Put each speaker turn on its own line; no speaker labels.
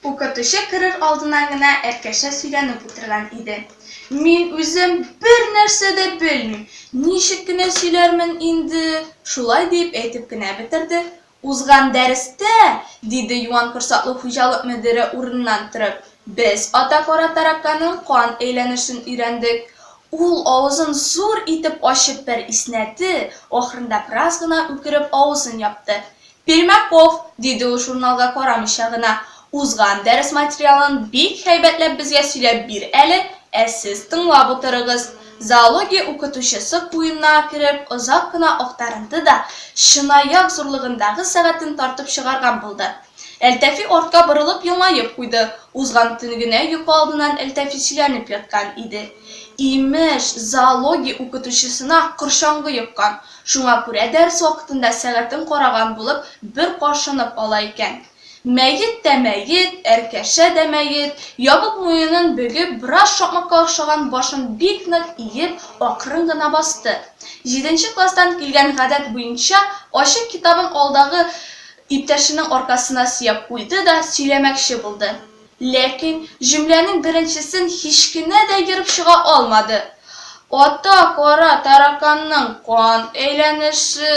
Укытучы керер алдыннан гына Әлкәшә сөйләнеп утырган иде. Мин үзем бер нәрсә дә белмим, ничек кенә сөйләрмен инде? Шулай диеп әйтеп кенә бетерде. Узган дәрестә, диде Юан корсаклы хуҗалык мөдире урыныннан торып, без ата кара тараканның кан әйләнешен өйрәндек. Ул авызын зур итеп ачып бер иснәде, ахырында бераз гына үкереп авызын япты. Пермяков! диде ул журналга карамыйча гына. Узган дәрес материалын бик һәйбәтләп безгә сөйләп бир әле, ә сез тыңлап утырыгыз. Зоология укытучысы куенына кереп озак кына актарынды да, чынаяк зурлыгындагы сәгатен тартып чыгарган булды. Әлтәфи артка борылып елмаеп куйды, узган төн генә йокы алдыннан Әлтәфи сөйләнеп яткан иде. Имеш, зоология укытучысына корчаңгы йоккан, шуңа күрә дәрес вакытында сәгатен караган булып бер кашынып ала икән. Мәет тә мәет, әркәшә дә мәет, ябык муенын бөгеп, бераз шакмакка охшаган башын бик нык иеп, акрын гына басты. Җиденче класстан килгән гадәт буенча, ачык китабын алдагы иптәшенең аркасына сөяп куйды да сөйләмәкче булды. Ләкин җөмләнең беренчесен һич кенә дә ерып чыга алмады. Ата кара тараканның кан әйләнеше